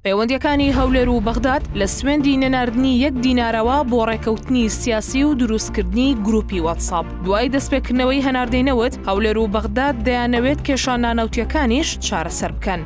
پەیوەندییەکانی هەولێر و بەغداد لە سوێندی نەناردنی یەک دینارەوە بۆ ڕێکەوتنی سیاسی و دروستکردنی گروپی واتساب دوای دەستپێکردنەوەی هەناردەی نەوت هەولێر و بەغداد دەیانەوێت کێشا نانەوتیەکانیش چارەسەر بکەن.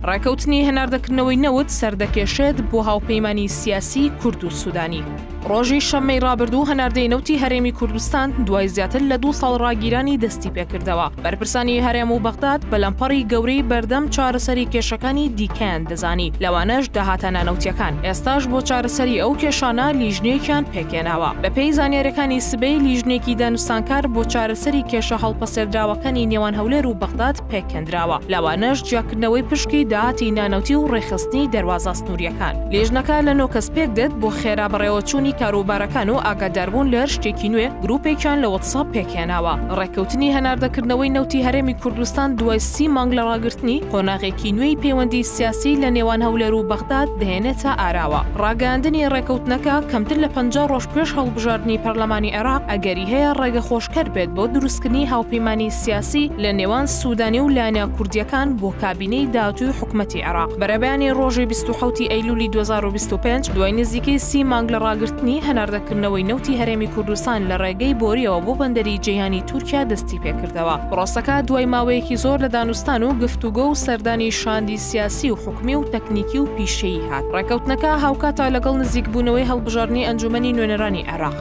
ڕێکەوتنی هەناردەکردنەوەی نەوت سەردەکێشێت بۆ هاوپەیمانی سیاسی کورد و سوودانی. ڕۆژی شەممەی ڕابردوو هەناردەی نەوتی هەرێمی کوردستان دوای زیاتر لە دوو ساڵ ڕاگیرانی دەستی پێکردەوە بەرپرسانی هەرێم و بەغداد بەلەمپەڕی گەورەی بەردەم چارەسەری کێشەکانی دیکەیان دەزانی لەوانەش داهاتانە نەوتیەکان ئێستاش بۆ چارەسەری ئەو کێشانە لیژنێکیان پێکێناوە بەپێی زانیارەکانی سبەی لیژنێکی دانوستانکار بۆ چارەسەری کێشە هەڵپەسێردراوەکانی نێوان هەولێر و بەغداد پێکهێندراوە، لەوانەش جیاکردنەوەی پشکی داهاتی نانەوتی و ڕێکخستنی دەروازە سنوورییەکان. لیژنەکە لە نۆ کەس پێکدێت، بۆ خێرا بەڕێوەچوونی کاروبارەکان و ئاگاداربوون لە هەر شتێکی نوێ، گروپێکیان لە وەتسئاپ پێکهێناوە. ڕێککەوتنی هەناردەکردنەوەی نەوتی هەرێمی کوردستان دوای سی مانگ لە ڕاگرتنی، قۆناغێکی نوێی پەیوەندی سیاسی لە نێوان هەولێر و بەغداد دەهێنێتە ئاراوە. ڕاگەیاندنی ڕێککەوتنەکە کەمتر لە پەنجا ڕۆژ پێش هەڵبژاردنی پەرلەمانی عێراق، ئەگەری هەیە ڕێگەخۆشکەر بێت بۆ دروستکردنی هاوپەیمانی سیاسی لە نێوان سوودانی و لایەنە کوردییەکان بۆ کابینەی داهاتووی حکومەتی عێراق. بەرەبەیانی ڕۆژی بیست و حەوت ی ئەیلوولی دوو هەزار و بیست و پێنج، دوای نزیکەی سی مانگ لە ڕاگرتنی هەناردەکردنەوەی نەوتی هەرێمی کوردستان لە ڕێگەی بۆرییەوە بۆ بەندەری جەیهانی تورکیا دەستی پێ کردەوە. پرۆسەکە دوای ماوەیەکی زۆر لە دانوستان و گفتوگۆ و سەردانی شاندی سیاسی و حکومی و تەکنیکی و پیشەیی هات. ڕێککەوتنەکە هاوکاتە لەگەڵ نزیکبوونەوەی هەڵبژاردنی ئەنجوومەنی نوێنەرانی عێراق.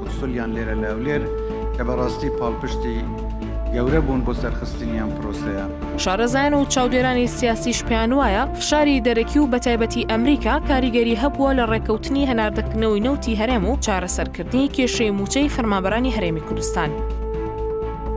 قوتسلیان لێرە لاولێر کە بە ڕاستی پاڵپشتی گەورە بوون بۆ سەرخستنی ئەم پرۆسەیە. شارەزایان و چاودێرانی سیاسیش پێیان وایە فشاری دەرەکی و بەتایبەتی ئەمریکا کاریگەری هەبووە لە ڕێککەوتنی هەناردەکردنەوەی نەوتی هەرێم و چارەسەرکردنی کێشەی مووچەی فەرمانبەرانی هەرێمی کوردستان.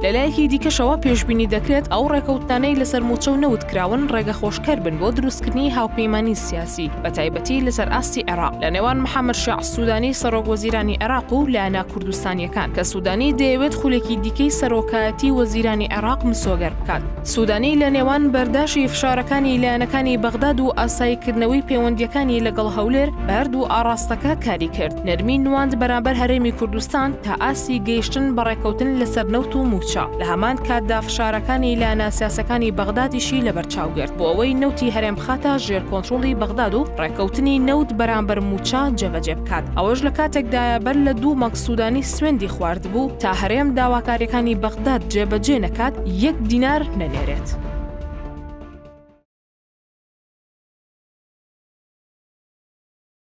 لەلایەکی دیکەشەوە پێشبینی دەکرێت ئەو ڕێککەوتنانەی لەسەر مووچە و نەوت کراون ڕێگە خۆشکەر بن بۆ دروستکردنی هاوپەیمانی سیاسی بەتایبەتی لەسەر ئاستی عێراق لە نێوان محەمەد شێع سوودانی سەڕۆک وەزیرانی عێراق و لایەنە کوردستانییەکان کە سوودانی دەیەوێت خولێکی دیکەی سەرۆکایەتی وەزیرانی عێراق مسۆگەر بکات. سوودانی لە نێوان بەرداشی فشارەکانی لایەنەکانی بەغداد و ئاساییکردنەوەی پەیوەندییەکانی لەگەڵ هەولێر بە هەردوو ئاڕاستەکە کاری کرد، نەرمی نواند بەرامبەر هەرێمی کوردستان تا ئاستی گەیشتن بە ڕێککەوتن لەسەر نەوت و مووچە، لە هەمان کاتدا فشارەکانی لایەنە سیاسییەکانی بەغدادیشی لەبەرچاو گرت. بۆ ئەوەی نەوتی هەرێم بخاتە ژێر کۆنترۆڵی بەغداد و ڕێکەوتنی نەوت بەرامبەر مووچە جێبەجێ بکات ئەوەش لە کاتێکدایە بەر لە دوو مانگ سوودانی سوێندی خواردبوو تا هەرێم داواکاریەکانی بەغداد جێبەجێ نەکات یەک دینار نەنێرێت.